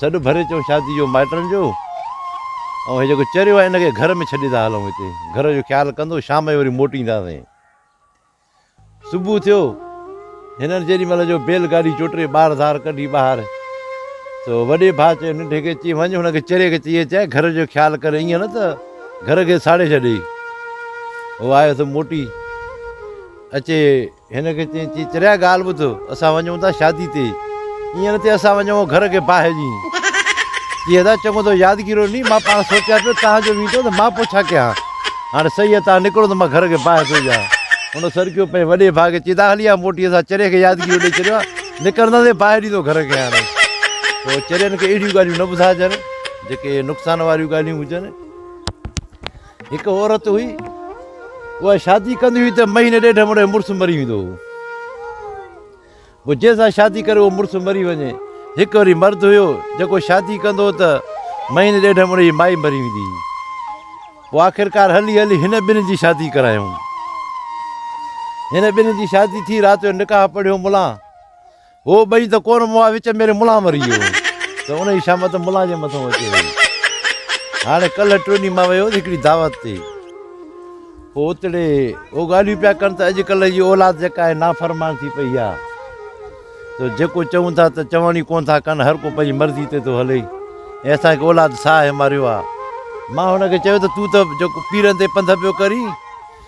سڏ ڀري چئو شادي جو مائٽن جو ۽ هي جيڪو چريو آهي ان کي گهر ۾ ڇڏي ٿا هلون هتي گهر جو خيال ڪندو شام جو وري موٽينداسين صبح ٿيو هنن جيڏي مهل جو بيل گاڏي چوٽري ٻار ڌار ڪڍي ٻاهر سو وڏي ڀاء چيو ننڍي کي چي وڃ هن کي چري کي چئي چئي گهر جو خيال ڪري ائين نه ته گهر کي ساڙي ڇڏي هو آيو ته موٽي اچي هن کي چيائين، چي چريا ڳالهه ٻڌ، اسان وڃون ٿا شادي تي، ايئن نه ٿئي اسان وڃون گهر کي باهه ڏينهن. چي ادا چڱو اٿو يادگيرو ني، مان پاڻ سوچيان پيو تان جو ويندو ته مان پوء ڇا ڪيان، هاڻي سهي آهي تان نڪرو ته مان گهر کي باهه ٿو ڏيان. هن سرڪيو پنهنجي وڏي ڀاء کي، چي ادا هلي آ موٽي اسان چريي کي يادگيرو ڏئي ڇڏيو آهي، نڪرنداسين باهه ڏيندو گهر کي هاڻي. تو چرين کي اهڙيون ڳالهيون نه ٻڌائجن جيڪي نقصان واريون ڳالهيون هجن. هڪ عورت هئي، اها شادي ڪندي هئي ته مهيني ڏيڍ ۾ ان جو مڙس مري ويندو هو. پوء جنهن سان شادي ڪري اهو مڙس مري وڃي. هڪ وري مرد هيو، جيڪو شادي ڪندو هو ته مهيني ڏيڍ ۾ ان جي مائي مري ويندي هئي. پوء آخرڪار هلي هلي هن ٻنهي جي شادي ڪرايائون. هن ٻنهي جي شادي ٿي، رات جو نڪاح پڙهيو ملان. هو ٻئي ته ڪور مئا وچ ميري ملان مري ويو هو ته انهي شامت ملان جي مٿو اچي ويو. هاڻي ڪلهه ٽوني مان ويو هوس هڪڙي دعوت تي. پوء اتڙي هو ڳالهيون پيا ڪن ته اڄڪلهه جي اولاد جيڪا آهي نافرمان ٿي پئي آ ته جيڪو چئون ٿا ته چوڻ ئي ڪونه ٿا ڪن هر ڪو پنهنجي مرضي تي ٿو هلي ۽ اسان کي اولاد ساهه ماريو آ. مان هن کي چيو ته تون ته جيڪو پيرن تي پنڌ پيو ڪرين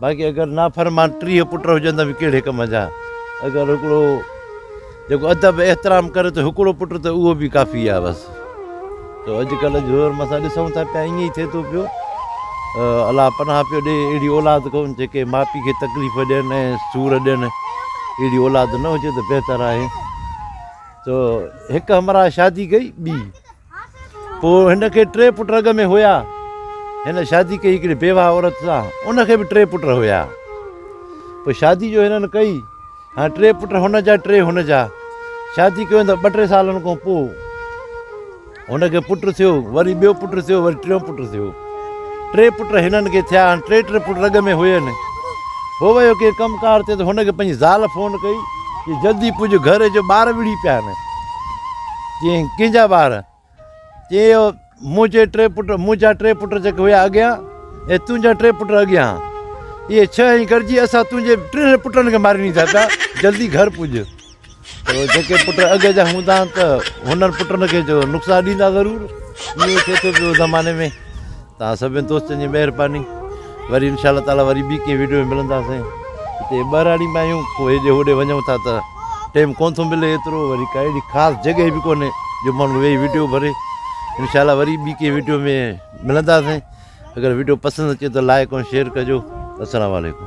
باقي اگر نافرمان ٽيهه پٽ هجندا به ڪهڙي ڪم جا. اگر هڪڙو جيڪو ادب احترام ڪري ته هڪڙو پٽ ته اهو به ڪافي آهي بس. تو اڄڪلهه جو دور ۾ اسان ڏسون ٿا پيا ائين ئي ٿئي ٿو پيو. الله پناهه پيو ڏئي اهڙي اولاد ڪون جيڪي ماء پيء کي تڪليف ڏين ۽ سور ڏين. اهڙي اولاد نه هجي ته بهتر آهي. تو هڪ همراهه شادي ڪئي ٻي. پوء هن کي ٽي پٽ اڳ ۾ هيا. هن شادي ڪئي هڪڙي بيواهه عورت سان، ان کي به ٽي پٽ هيا. پوء شادي جو هنن ڪئي. هاڻ ٽي پٽ هن جا ٽي هن جا. شادي ڪيو ته ٻه ٽي سالن کان پوء هن کي پٽ ٿيو، وري ٻيو پٽ ٿيو، وري ٽيون پٽ ٿيو. ٽي پٽ هنن کي ٿيا. هاڻ ٽي ٽي پٽ رڳ ۾ هين. هو ويو ڪنهن ڪم ڪار تي ته هن کي پنهنجي زال فون ڪئي، چي جلدي پڄ گهر جو ٻار وڙهي پيا آهن. چيائين، ڪنهن جا ٻار؟ چيائين، اهو منهنجي ٽي پٽ، منهنجا ٽي پٽ جيڪي هيا اڳيان ۽ تنهنجا ٽي پٽ اڳيان. اهي ڇهه ۽ گڏجي اسان تنهنجي ٽنهي پٽن کي ماري ڏيندا پيا. جلدي گهر پڄ. اهي جيڪي پٽ اڳ جا هوندا ته هنن پٽن کي جو نقصان ڏيندا ضرور. ائين ٿئي ٿو پيو زماني ۾. توهان سڀني دوستن جي مهرباني وري انشاء الله تعالي وري ٻي ڪنهن ويڊيو ۾ ملنداسين هتي ٻهراڙي ۾ آهيون پوء هيڏي هوڏي وڃون ٿا ته ٽيم ڪون ٿو ملي ايترو وري ڪا اهڙي خاص جڳهه به ڪونهي جو ماڻهو ويهي ويڊيو ڀري انشاء الله وري ٻي ڪنهن ويڊيو ۾ ملنداسين اگر ويڊيو پسند اچي ته لائڪ ۽ شيئر ڪجو السلام عليڪم